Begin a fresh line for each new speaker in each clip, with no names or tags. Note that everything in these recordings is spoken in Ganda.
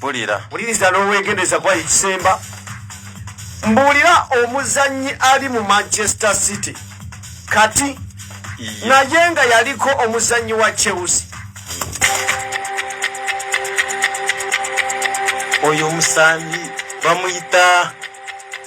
bulira buliriza
n'owegendereza
kuba ekisemba mbuulira omuzannyi ali mu manchester city kati naye nga yaliko omuzannyi wa chelsea
oyo omusambi bamuyita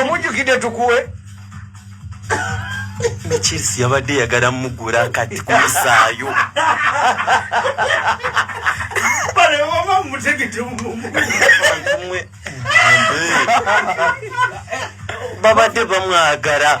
omujukidde tukuwe
nekirisi yabadde yagala mugula kati kumusaayo babadde bamwagala